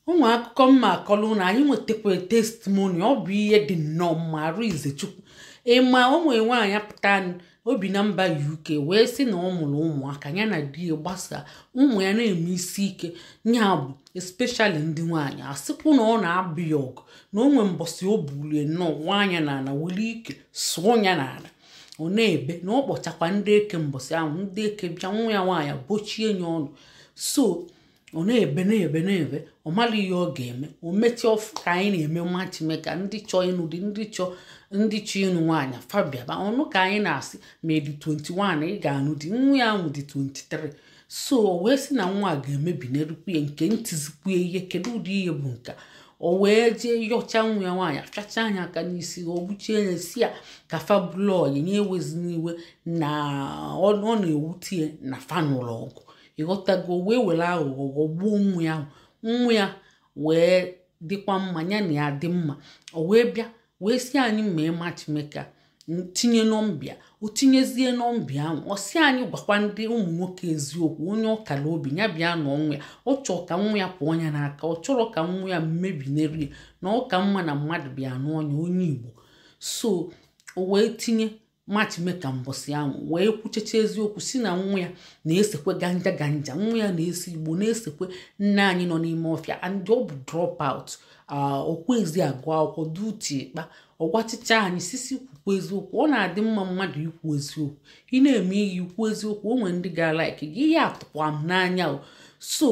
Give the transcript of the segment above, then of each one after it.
o nwe akụkọ m ma-akọlụ unu anyị nwetakwa testimoni ọ bụ ihe dị nnọọ mma arụ izechukwu ị ma o nwe nwaanyị pụta o bi na mba uk wee sị na ọ mụrụ ụmụaka ya na di ya gbasaa ụmụ ya na-eme isi ike ya bụ especially ndị nwaanyị a sịkwu na ọ na-abụ ya ọgụ na o nwee mbọsị o bulie nnọọ nwaanyị na ala were ike sụọ ya n'ala ọ na-ebe na ọ kpọchakwa ndị eke mbọsị ahụ ndị eke bịa nwa ya nwaanyị bochie ya ọnụ so ọ na-ebe na-ebe na-ebe ọ marọ ihe ọ ga-eme o mechie ọ fụ ka anyị na-eme matchmaker ndị chọọ ịnụ di ndị chọọ ndị chọọ ịnụ nwaanyị fa bịaba ọ nụ ka anyị na-asị ma ị dị 21 ị ga-anụ di nwa ya ahụ dị 23 so o wee sị na nwa a ga-emebinarịkwu ya nke na-etizikwu ihe kedu ụdị ihe bụ nke a? o wee jee yọcha nwa ya nwaanyị fịachaa ya aka n'isi o gbuchie ya sị ya ka fa bụlụ ọyị ya ewezina iwe na ọ ọ na-ewute ya na fa nụlụ ọgụ ị ghọtago o wee were aghụghọ ghọgbuo nwa ya nwa ya wee dịkwa mma ya na ya dị mma o wee bịa wee sị anyị mee matchmaker tinye nọmba ya o tinyezie nọmba ya ahụ ọ sị anyị gwakwa ndị ụmụ nwoke eziokwu onye ọ kara obi ya bịa nụọ nwa ya ọ chọọ ka nwa ya pụọ ya n'aka ọ chọrọ ka nwa ya mebinarị ya na ọ ka mma na mmadụ bịa nụọ ya onye igbo so o wee tinye matchmaker mbọsị ahụ wee kwuchecha eziokwu sị na nwa ya na-esekwe ganja ganja nwa ya na-ese igbo na-esekwe nna anyị nọ n'ime ọfịa and ọ bụ drop out o kwezi agụ akwụkwọ duti ịkpa ọ gwachicha anyị sisi kwukwu eziokwu ọ na-adị mma mmadụ ikwu eziokwu ị na-eme ihe i kwuo eziokwu o nwere ndị ga-alaiki gị ihe a tụkwa m n'anya o so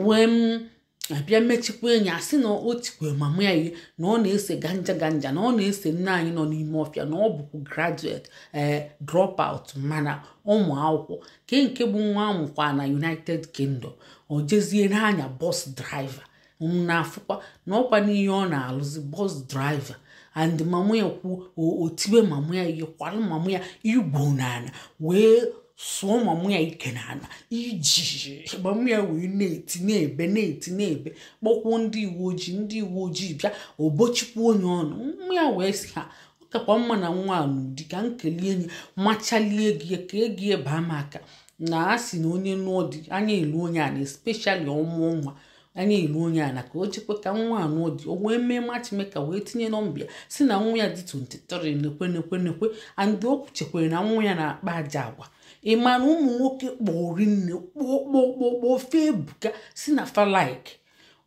wee m abịa mechikwa enyi a sị na o tikwe mama ya ihe na ọ na-ese ganja ganja na ọ na-ese nna anyị nọ n'ime ọfịa na ọ bụkwa graduate ee drop out mana ọ ma akwụkwọ ke nke bụ nwa a mụkwa na united kingdom o jezie na-anya bus driver m na-afụkwa na ọkwa n'ihe ọ na-alụzi bus driver and mama ya kwuo o- o tiwe mama ya ihe kwalụ mama ya igbo n'ala wee sụọ mama ya ike n'ala iji mama ya wee na-eti na-ebe na-eti na-ebe kpọkwuo ndị uwe ojii ndị uwe ojii bịa o bochikwuo ya ọnụ mama ya wee sị ha ọ kakwa mma na nwa a nụọ di ka m kelie enyi machalie gị ya ka egi ya baa m aka na a sị na onye nụọ di anya eluo onye ana especially ọ mụọ nwa anya eluo onye ana ka o chekwa ka nwa a nụọ di o wee mee matchmaker wee tinye nọmba ya sị na nwa ya dị 23 nekwe nekwe nekwe and o kwuchekwere na nwa ya na-akpa ajọ agwa ị ma na ụmụ nwoke kpọri nne kpọkpọkpọkpọ fa ebuka sị na fa like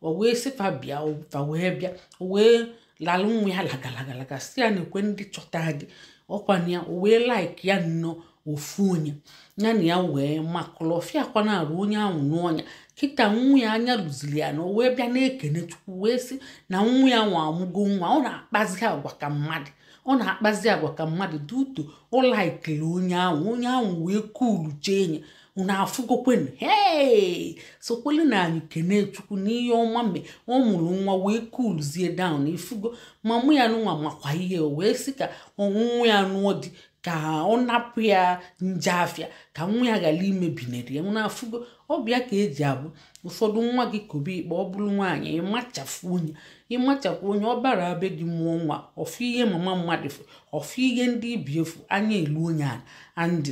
o wee sị fa bịa fa wee bịa o wee lalụ nwa ya lagalagalaga sị ya na-ekwe ndị chọta di ọkwa na ya o wee like ya nnọọ ofu onye ya na ya wee makụlụ ọfịa kwa n'arụ onye ahụ nụọ ya kịta nwa ya anya luziri ya ana o wee bịa na-ekene chukwu wee sị na nwa ya ahụ amụgo nwa ọ na-akpazi agwa ka mmadụ ọ na-akpazi agwa ka mmadụ due to o likiri onye ahụ onye ahụ wee kuulu chee nye unu afụgokwenu hee sokwolu nụ anyị kene chukwu n'ihe ọma mgbe ọ mụrụ nwa wee coolzie down ị fụgo mama ya nụnwa makwa ihe o wee sị ka nwa ya nụọ di ka ọ napụ ya nje afịa ka nwa ya ghara imebinere ya unu afụgo ọ bụ ya ka e ji abụ ụfọdụ nwa gị kobe ikpe ọ bụrụ nwaanyị ịmachafụ onye ịmachafụ onye ọ bara be di mụọ nwa ọfụ ihe mama mmadụ fụ ọfụ ihe ndị ibi efu anya elu onye a andị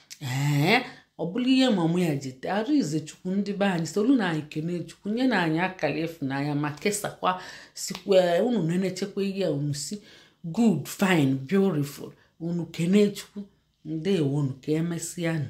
ee ọ bụrụ ihe mama ya ji tee arụ ize chukwu ndị be anyị solu nụ anyị kene chukwu nye nụ anyị akara ịfụnanya ma kesakwa sikwa unu na-enechekwa ihe a unu sị good fine beautiful unu kene chukwu ndewonu ka e mesịa nụ